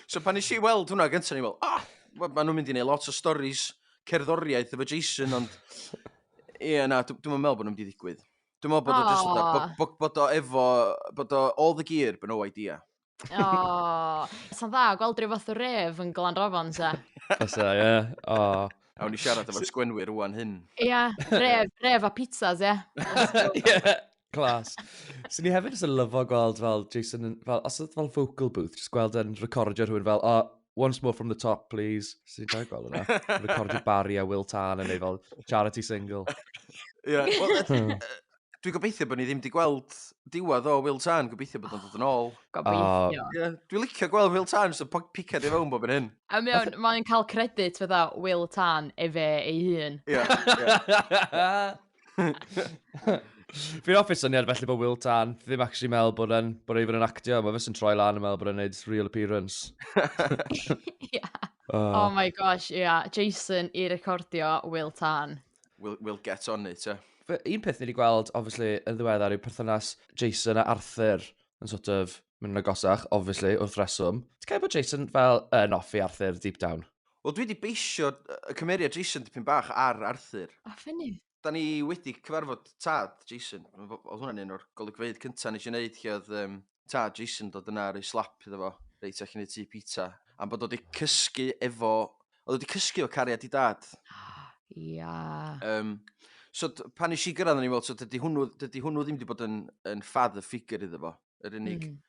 so pan eisiau weld hwnna gyntaf, ni'n meddwl, ah, maen nhw'n mynd i wneud lot o stories cerddoriaeth efo Jason, ond Ie na dw- dwi'm yn meddwl bod nhw'n mynd i ddigwydd. Dwi'n meddwl bod o jyst fatha, bo- Aw. bo- bod o efo, bod o all the gear, but no idea. O, sa'n dda gweld rhyw fath o ref yn Glanrofon, sa. Fysa, ie. O. Awn ni siarad efo'r sgwenwyr rwan hyn. Ia, ref, ref a pizzas, ia. Ie. Clas. so ni hefyd jyst yn lyfo gweld fel Jason, yn, fel, os oedd fel focal booth, jyst gweld yn recordio rhywun fel, oh, once more from the top, please. So ni'n dau gweld yna. recordio Barry a Will Tan yn ei fel charity single. Ie, yeah, well, hmm. dwi'n gobeithio bod ni ddim wedi gweld diwedd o Will Tan, gobeithio bod o'n dod yn ôl. Gobeithio. Uh, yeah, dwi'n licio gweld Will Tan, so picad i fewn bob yn hyn. A mewn, mae'n cael credit fydda Will Tan efe ei hun. Ie, yeah, ie. Yeah. Fi'n offi'n syniad felly bod Will Tan ddim actually meddwl bod e'n bod e'n yn actio. Mae fes yn troi lan yn meddwl bod e'n neud real appearance. yeah. oh. oh my gosh, yeah. Jason i recordio Will Tan. We'll, we'll get on it, yeah. Un peth ni wedi gweld, obviously, yn ddiweddar yw perthynas Jason a Arthur yn sort of Mae'n agosach, obviously, wrth reswm. Ti'n cael bod Jason fel yn offi Arthur deep down? Wel, dwi wedi beisio y cymeriad Jason dipyn bach ar Arthur. A ffynnu. Da ni wedi cyfarfod tad Jason. Oedd hwnna'n un o'r golygfeydd cyntaf nes i wneud lle oedd um, tad Jason dod yna ar ei slap iddo fo, reit ac yn ei tu pizza. Am bod oedd wedi cysgu efo... Oedd wedi cysgu efo cariad i dad. Ia. Um, so pan nes i gyrraedd yn ei weld, so dydy hwnnw, dydy hwnnw ddim wedi bod yn, yn father figure iddo fo. Yr unig... Mm.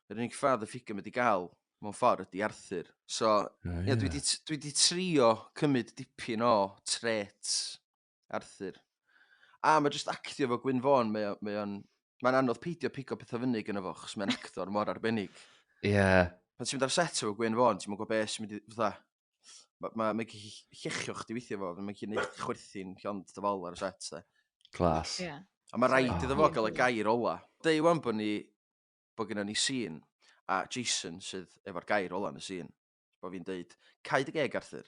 ...yr unig father figure mae 'di gael, mewn ffordd, ydy Arthur. So, oh, yeah. yeah, dwi 'di dwi 'di trio cymryd dipyn o traits Arthur. A mae jyst actio fo Gwyn Fôn, mae o'n... mae o'n... Mae'n anodd peidio pigo pethau fyny gyda fo, chos mae'n actor mor arbennig. Ie. Yeah. Pan ti'n mynd ar set efo Gwyn Fôn, ti'n mynd gwybod beth sy'n mynd i... Fatha, Mae ma, ma llechio chdi weithio fo, mae'n gallu gwneud chwerthin llond dy fol ar y set. De. Clas. Yeah. A mae rhaid iddo fo gael y gair ola. Deu wan bod ni, bod gyda ni sîn, a Jason sydd efo'r gair ola yn y sîn. Bod fi'n deud, caid y geg Arthur.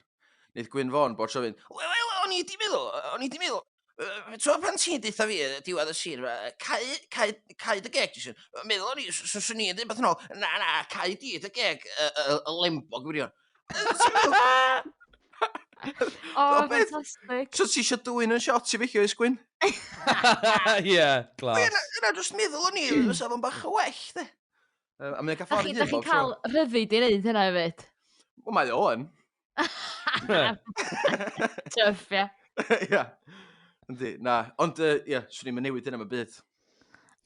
Wneud Gwyn Fawn bod tro fi'n, wel, o'n i di meddwl, o'n i di meddwl. Yy t'wod pan ti'n deutha fi yy diwedd y sir 'ma yy cau cau cau dy geg jyst yn meddwl o'n i s- s- swn i'n deud wbeth yn ôl na na cau di dy geg yy yy y lembog gwirion. O, O, beth? ffantastig. So ti eisiau dwyn yn shot i feicio i sgwyn? Ie, Ie, glas. na, na, jyst meddwl o'n i, fysa fo'n bach o well, de. Yym, a mae'n cael Da ffordd chi, da chi'n cael rhyddid i wneud hynna hefyd. Wel, mae o yn. Tuff, ie. Ia. Yndi, na. Ond, yy, ia, swn i'm yn newid hynna am y byd.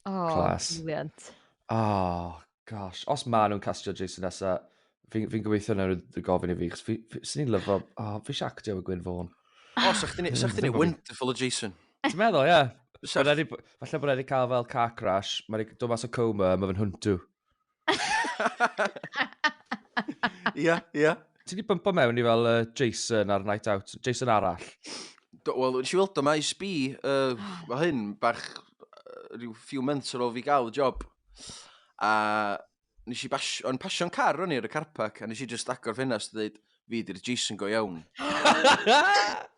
O, Class. brilliant. Oh, gosh. Os ma nhw'n castio Jason nesa, fi'n fi gobeithio na nhw'n gofyn i fi, chos fi, fi, swn i'n lyfo, oh, fi eisiau actio efo Gwyn Fawn. O, sa'ch ti'n sa chdi neud wonderful o Jason. Ti'n meddwl, ie? Bysa. Bod e 'di- Falle bod e wedi cael fel car crash, mae'n dod mas o coma, mae fe'n hwntw. Ia, ia. Ti wedi bympo mewn i fel uh, Jason ar Night Out, Jason arall? Wel, nes i weld o maes B, uh, mae hyn bach uh, rhyw few months ar ôl fi gael y job. A nes i bas, o'n pasio'n car o'n i ar y carpac, a nes i just agor ffenast a dweud, fi di'r Jason go iawn.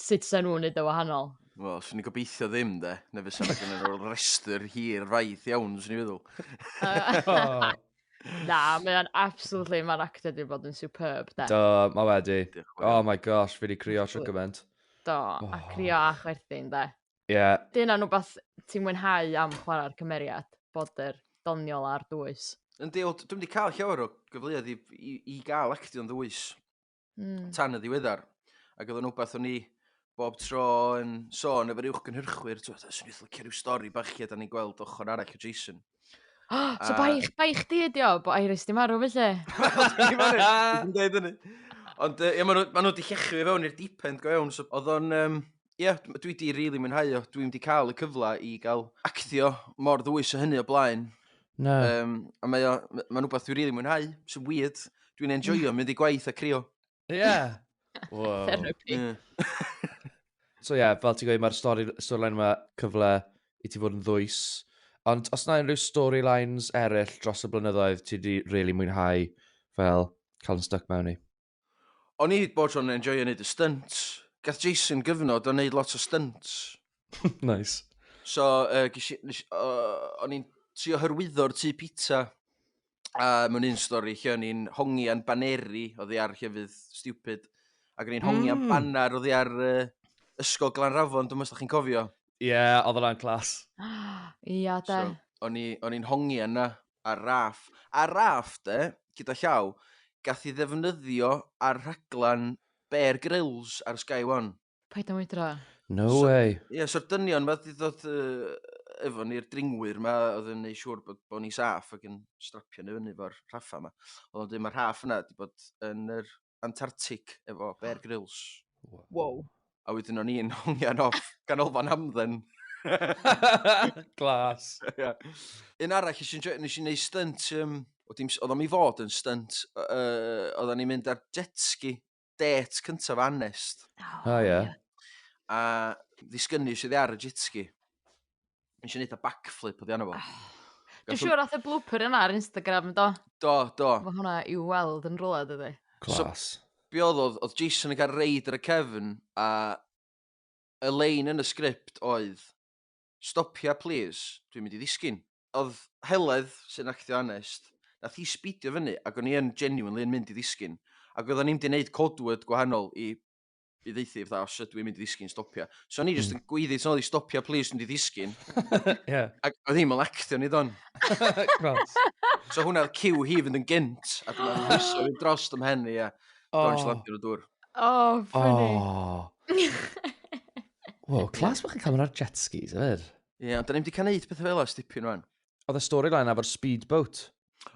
sut sa'n nhw'n neud o wahanol. Wel, swn i'n gobeithio ddim, de. Neu fysa na gen nhw'r rhestr hir faith iawn, swn i'n feddwl. Na, mae o'n absolutely, mae'n actor di bod yn superb, de. Do, mae wedi. Oh my gosh, fi wedi crio trwy gymaint. Do, a crio a chwerthin, de. Ie. Yeah. Dyna nhw beth ti'n mwynhau am chwarae'r cymeriad, bod yr doniol a'r dwys. Yndi, dwi'n wedi cael llawer o gyfleoedd i, i, i gael actio'n ddwys. mm. tan y ddiweddar. Ac oedd yn wbeth o'n i bob tro yn sôn efo'r uwch gynhyrchwyr, ti'n meddwl, swn i'n fflicio rhyw stori bach lle da ni'n gweld ochr arall o Jason. Oh, so bai, bai chdi ydi o, bod Iris di marw felly. Dwi'n dweud hynny. Ond ie, maen nhw wedi llechu fi fewn i'r deep end go iawn. So, oedd o'n... Um, ie, dw- dwi 'di rili mwynhau o. Dwi'm 'di cael y cyfle i gael actio mor ddwys â hynny o blaen. Na. Um, a mae o, m- mae'n rhywbeth dwi'n rili mwynhau, sy'n weird. Dwi'n enjoyo mynd i gwaith a crio. Ie. Wow. Therapy. Ie. So ie, yeah, fel ti'n gweud, mae'r stori, storyline yma cyfle i ti fod yn ddwys. Ond os na unrhyw storylines eraill dros y blynyddoedd ti wedi really mwynhau fel cael yn stuck mewn i? O'n i hyd bod o'n enjoyio neud y stunts. Gath Jason gyfnod o'n neud lot o stunts. nice. So, uh, gysi, nes, uh, o'n i'n trio hyrwyddo'r tu pizza. A mewn un stori, lle o'n i'n hongi a'n baneri, o ddi ar llefydd stupid. Ac o'n i'n hongi mm. a'n hmm. baner, o ddi ar uh, ysgol Glan Rafon, dwi'n meddwl chi'n cofio. Ie, yeah, oedd yna'n clas. Ia, da. So, o'n i'n hongi yna, Ar raff. Ar raff, de, gyda llaw, gath ei ddefnyddio ar rhaglen Bear Grylls ar Sky One. Paid â mwydro. No So- way. Ie, so'r dynion 'ma 'di ddod yy, efo ni'r dringwyr 'ma oedd yn neu' siŵr bod bo' ni saff ac yn strapio ni fyny efo'r rhaffa 'ma. O'dd o'n deud ma'r rhaff yna 'di bod yn yr Antarctic efo Bear Grylls. Wow. A wedyn o'n i'n hongian off ganolfan hamdden. Glas. yeah. Un arall nes i'n nes i'n neud stunt, um, oedd o'n i fod yn stunt, uh, oedd o'n i'n mynd ar jet ski, det cyntaf anest. Oh, oh yeah. yeah. A ddisgynu sydd ar y jet ski. Yn eisiau neud y backflip oedd arno fo. Dwi'n siŵr oedd y blooper yna ar Instagram, do? Do, do. Mae hwnna i weld yn rhywle, dydy. Clas. So, be oedd oedd, oedd Jason yn cael reid ar y cefn, a y lein yn y sgript oedd, stopia, please, dwi'n mynd i ddisgyn. Oedd Heledd, sy'n actio Anest, nath hi sbidio fyny, ac o'n i yn genuinely yn mynd i ddisgyn. Ac oedden ni'n mynd i wneud codwyd gwahanol i i ddeithi fatha os ydw i'n mynd i ddisgyn stopio. So ni jyst hmm. yn gweiddi tyn oedd i stopio please dwi'n di ddisgyn. yeah. Ac oedd hi'n malectio ni don. so hwnna oedd cyw hi fynd yn gynt a dwi'n meddwl hwyso fi dros dim hen i a dwi'n slapio nhw dŵr. Oh, funny. Oh. Wow, clas bod chi'n cael ar jet skis, yfyd. Ie, yeah, ond dyn ni'n di cael neud pethau fel o stipyn rwan. Oedd y storyline efo'r speedboat.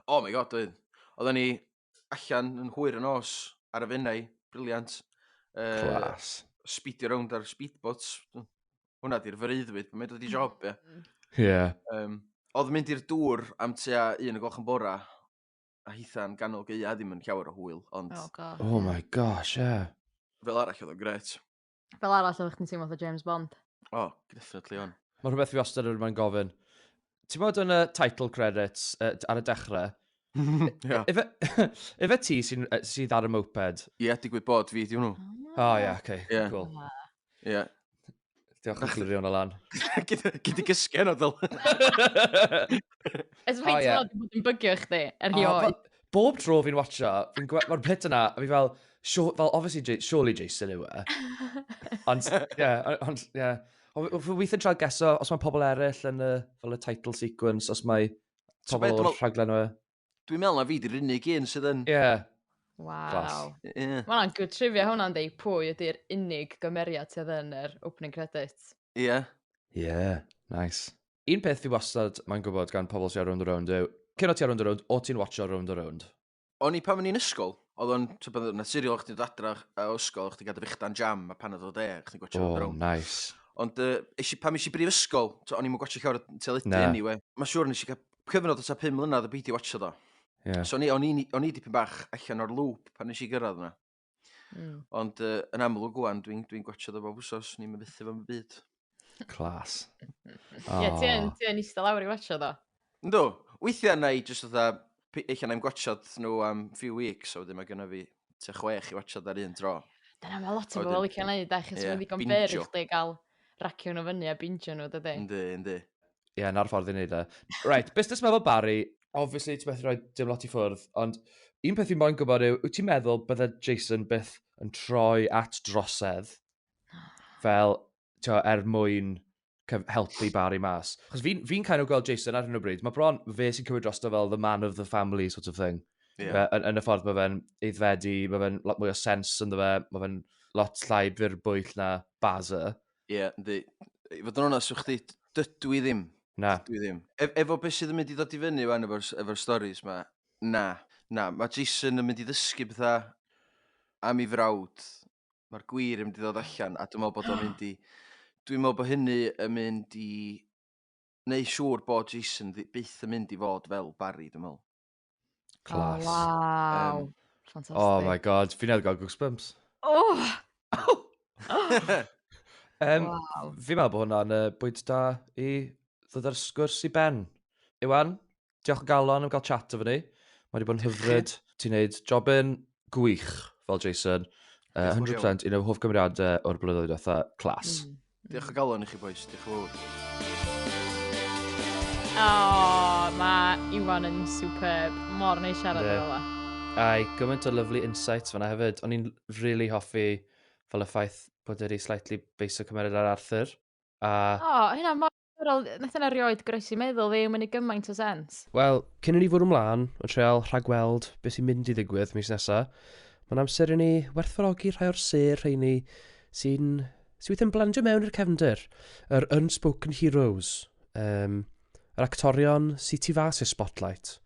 Oh my god, oedd. Oedden ni, allan yn hwyr y nos ar y Fenai, briliant. Uh, Clas. Speedio rownd ar speedboats. Hwna di'r freuddwyd, mae'n dod i job, ie. Mm. Ie. Yeah. Um, oedd mynd i'r dŵr am tua un o gloch yn bora, a hitha'n ganol geia ddim yn llawer o hwyl, ond... Oh, God. Oh my gosh, ie. Yeah. Fel arall oedd o'n gret. Fel arall oeddech chdi'n teimlo fatha James Bond. O, oh, definitely on. Mae rhywbeth fi wastad yn rhywbeth gofyn. Ti'n bod yn y title credits uh, ar y dechrau? yeah. Efe, efe ti sy'n sy ar y moped? Ie, yeah, digwydd bod fi, di hwnnw. O, oh, ie, yeah, oce, okay. yeah. cool. Ie. Yeah. Diolch yn glirio hwnna lan. Gyd i gysgen o ddol. Ys fi ti'n bod yn bygio chdi, erioed. Bob tro fi'n watcho, fi'n gweld, mae'r pit yna, a fi fel, sure, fel, obviously, J surely Jason yw e. ond, ie, yeah, ond, ie. Yeah. Fi weithio'n trael geso, os mae pobl eraill yn y, fel y title sequence, os mae pobl o'r rhaglen yw e. Dwi'n meddwl na fi di'r unig un sydd yn... Ie. Yeah. Wow. Yeah. Mae hwnna'n good trivia hwnna'n dweud pwy ydy'r unig gymeriad sydd yn yr opening credits. Ie. Yeah. Ie, yeah. nice. Un peth fi wastad mae'n gwybod gan pobl sy'n ar Rownd a Rownd yw, cyn o ti ar Rownd a Rownd, o ti'n watcho Rownd a Rownd? O'n i pan o'n i'n ysgol, oedd o'n naturiol chdi dod adra o ysgol, chdi gael dy fechdan jam, a pan oedd o de, chdi'n gwachio Rownd a Rownd. O, nice. Ond uh, pan eisiau brif ysgol, o'n i'n gwachio llawer o teledu Na. anyway. Mae'n siŵr nes i gael cyfnod o ta 5 mlynedd o beidio watcho do. Yeah. So o'n i, o'n i, o'n i dipyn bach allan o'r lŵp pan nes i gyrraedd yna. Mm. Ond uh, yn amlwg gwan, dwi'n dwi, dwi gwachod o bob wsos, ni'n myfethu fo'n byd. Clas. oh. Ie, ti yn, ti yn eistedd lawr i watcho do? Ynddo, weithiau na i jyst oedd eich anna'n gwachod nhw am few weeks, a wedyn mae gynnu fi te chwech i watchod ar un tro. Dyna mae lot o bobl wedi cael ei wneud, da, chos yeah, mae'n ddigon byr i chdi gael racio nhw fyny a bingio nhw, dydy? Ynddi, ynddi. Ie, yeah, na'r ffordd i wneud e. Right, busnes meddwl Barry, obviously ti'n methu rhoi dim lot i ffwrdd, ond un peth fi moyn gwybod yw, wyt ti'n meddwl bydde Jason byth yn troi at drosedd fel, ti'n er mwyn helpu Barry mas? Chos fi'n fi, kind of gweld Jason ar hyn o bryd, mae bron fe sy'n cymryd drosto fel the man of the family sort of thing. Yeah. Yn, yn y ffordd mae fe'n eiddfedu, mae fe'n lot mwy o sens ynddo fe, mae fe'n lot llai bwyll na Baza. Ie, yeah, ynddi. I fod yn onest, chdi, dydw i ddim. Na. Dydw i ddim. E efo beth sydd yn mynd i ddod i fyny fan efo'r efo storys ma, na. Na, mae Jason yn mynd i ddysgu bethau am ei frawd. Mae'r gwir yn mynd i ddod allan, a dwi'n meddwl bod o'n mynd i... Dwi'n meddwl bod hynny yn mynd i... Neu siŵr bod Jason byth yn mynd i fod fel Barry, dwi'n meddwl. Class. Oh, wow. Um, Fantastic. Oh my god, fi newydd gael goosebumps. Oh! um, wow. Fi meddwl bod hwnna'n uh, bwynt da i ddod ar sgwrs i ben. Iwan, diolch o galon am gael chat o fyny. Mae wedi bod yn hyfryd. Ti'n neud job yn gwych fel Jason. Uh, 100% un o'r hoff gymeriadau o'r blynyddoedd fatha clas. Mm. Diolch o galon i chi boys, diolch o fawr. O, oh, mae Iwan yn superb. Mor neu siarad yeah. ola. Ai, gymaint o lovely insights fanna hefyd. O'n i'n really hoffi fel y ffaith bod wedi slightly beiso cymeriad ar Arthur. A... O, oh, hynna mor Diddorol, n- nath hynna rioed groesi i meddwl fi, ma'n neud gymaint o sens. Wel, cyn i ni fwrw 'mlaen, yn treial rhagweld be sy'n mynd i ddigwydd mis nesa, mae'n amser i ni werthfawrogi rhai o'r sêr rheini sy'n sy weithiau'n blandio mewn i'r cefndir, yr unspoken heroes, um, yr actorion sy'n tu fas i'r spotlight,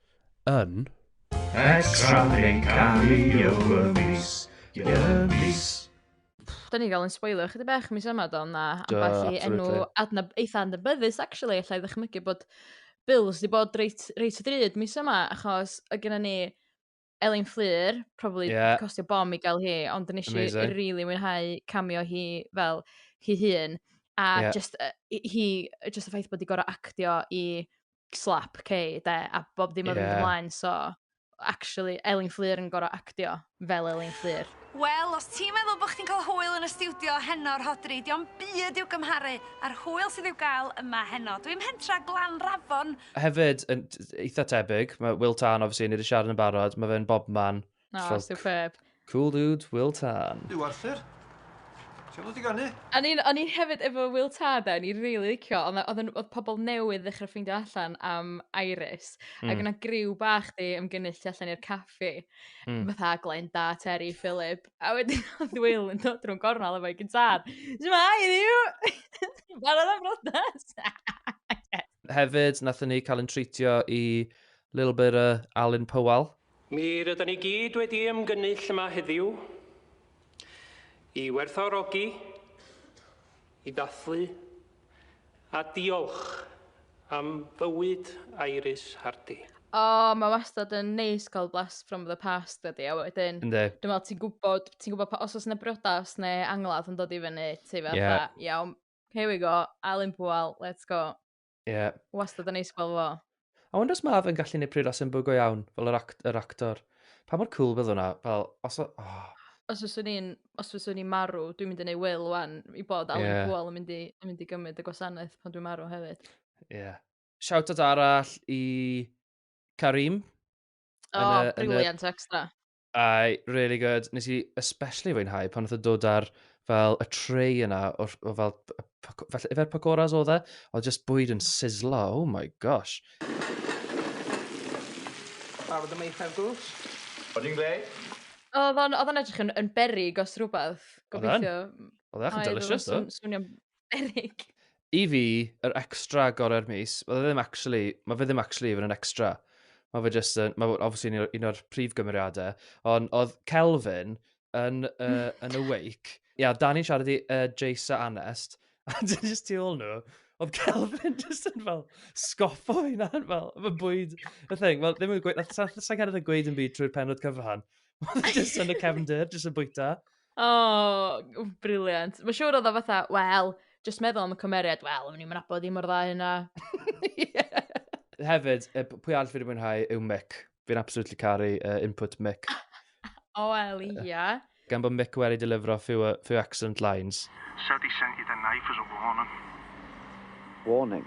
yn... Extra yn cario y mis, y mis. Pff, da ni gael yn spoilio chydig bach mis yma do, na ambell i enw adna eitha adnabyddus actually, allai ddychmygu bod Bills wedi bod reit, reit o drud mis yma, achos y gyda ni Elin Fflur, probably yeah. costio bom i gael hi, ond yn eisiau rili really mwynhau camio hi fel hi hun, a yeah. just, uh, hi, just y ffaith bod wedi gorau actio i slap Kay, de, a bob dim oedd yn ymlaen, so actually, Elin Fflur yn gorau actio fel Elin Fflur. Wel, os ti'n meddwl bod chdi'n cael hwyl yn y studio heno, Rhodri, diolch yn byd i'w gymharu a'r hwyl sydd i'w gael yma heno. Dwi'n hentra glan rafon. Hefyd, yn eitha tebyg, mae Will Tarn, obviously, ni wedi siarad yn barod, mae fe'n bobman. Na, oh, superb. Cool dude, Will Tan. Yw Arthur? Ti'n dod i ganu? O'n i'n o'n i'n hefyd efo Will Tad o'n i'n rili licio, ond oedd oedd pobl newydd ddechrau ffeindio allan am Iris, mm. ac hmm. yna griw bach di ymgynnull allan i'r caffi, mm. fatha Glenda, Terry, Philip, a wedyn oedd Will yn dod drwy'n gornel efo'i gyntaf. Ti'n ma, i ddiw! Barod am rodas! Hefyd, nath ni cael yn treitio i little bit of Alan Powell. Mi rydan ni gyd wedi ymgynnull yma heddiw i werthfawrogi, i ddathlu a diolch am fywyd Iris Hardy. O mae wastad yn neis cael blast from the past dydi a wedyn... Yndi. ...dwi'n meddwl ti'n gwybod ti'n gwybod pa... os oes yna briodas neu angladd yn dod i fyny ti fatha... Ie. ...iawn here we go Alun Pŵel let's go. Ie. Wastad yn neis gweld fo. I wonder os mae fe'n gallu gwneud pryd sy'n bwygo iawn, fel yr, act, yr actor. Pa mor cool bydd hwnna? Fel, os... o- Oh, Os fyswn i'n, os fyswn i'n marw, dwi'n mynd i neud wyl wan i bod Alan Ie. Pwal yn mynd i, yn mynd i gymryd y gwasanaeth pan dwi'n marw hefyd. ie. Shout out arall i Karim. O, Yn y- yn y- briliant extra. Aye, really good. Nes i especially fwynhau pan oedd yn dod ar fel y tray yna, o'r, o fel, fel efer pacoras oedd e, oedd just bwyd yn sizzlo, oh my gosh. Barod am eithaf gwrs. Oedd hi'n gred? Oedd o'n edrych yn, yn berig os rhywbeth, gobeithio. Oedd e'n delicious, oedd? Swnio'n Eryg. I fi, yr extra gorau'r mis, mae fe ddim actually, mae fe ddim actually even yn extra. Mae fe just, yn, mae obviously un o'r, un o'r prif gymeriadau, ond oedd Kelvin yn, uh, yn Awake, ia, yeah, Dani'n siarad i uh, Jace a Anest, a dyn just tu ôl nhw, oedd Kelvin just yn fel sgoffo hynna, fel, fy bwyd, y thing, fel, ddim yn gweud, sa'n cael ei gweud yn byd trwy'r penod cyfan, just yn y cefndir, just yn bwyta. O, w- briliant. Mae'n siŵr oedd o fatha, wel, just meddwl am y cymeriad, wel, o'n i'n nabod hi mor dda hynna. Hefyd, y p- pwy all fi wedi mwynhau yw Mick. Fi'n absolutely caru uh, input Mick. O, wel, ia. Gan bod Mick wedi delifro few, uh, few excellent lines. Said he sent you the knife as a warning. Warning.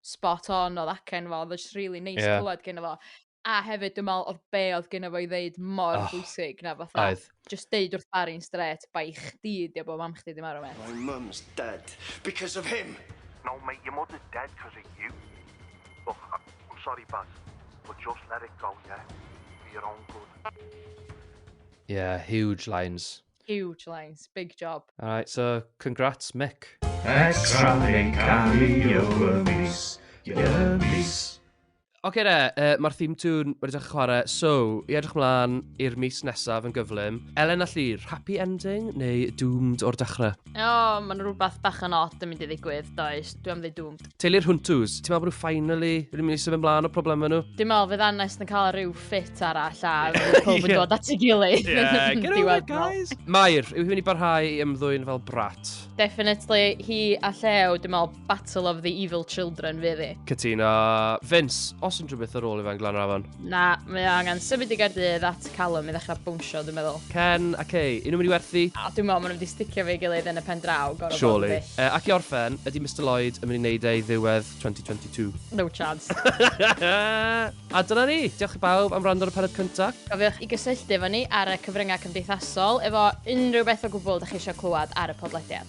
spot on oedd acen fo, oedd o just really neis yeah. clywed gen fo. A hefyd, dwi'n meddwl, oedd be oedd gen fo i ddeud mor oh, bwysig na fatha. Oedd. Just deud wrth Barry'n stret, bai chdi di o bod mam chdi di marw me. My mum's dead because of him. No, mate, your mother's dead because of you. Look, I'm sorry, Baz, but just let it go, yeah? For your own good. Yeah, huge lines. Huge lines, big job. Alright, so congrats Mick. Extra yn cario y mis, y mis. Oce re, uh, mae'r theme tune wedi dechrau chwarae, so i edrych mlaen i'r mis nesaf yn gyflym. Elen a Llyr, happy ending neu doomed o'r dechrau? O, oh, mae'n rhywbeth bach yn odd yn mynd i ddigwydd, does. Dwi am ddweud dŵm. Teulu'r Huntws, ti'n meddwl bod nhw finally wedi mynd i symud ymlaen o problemau nhw? Dwi'n meddwl fydd Anest yn cael rhyw ffit arall a fydd pob yn dod at ei gilydd. Yeah, get over it, guys! Mair, yw hi'n mynd i barhau i ymddwyn fel brat? Definitely, hi a Llew, dwi'n meddwl Battle of the Evil Children fydd i. Cytuno. Vince, os yn rhywbeth ar ôl i fe'n glan rafon? Na, mae o angen symud i Gaerdydd at Callum i ddechrau bwnsio, dwi'n meddwl. Ken a Kay, un o'n mynd i werthu? A dwi'n meddwl maen nhw wedi sticio fe gilydd yn y pen draw, gorau Surely. Uh, ac i orffen, ydy Mr Lloyd yn mynd i wneud ei ddiwedd 2022? No chance. a dyna ni, diolch i bawb am rand ar y penod cyntaf. Cofiwch i gysylltu efo ni ar y cyfryngau cymdeithasol efo unrhyw beth o gwbl da chi eisiau clywed ar y podlediad.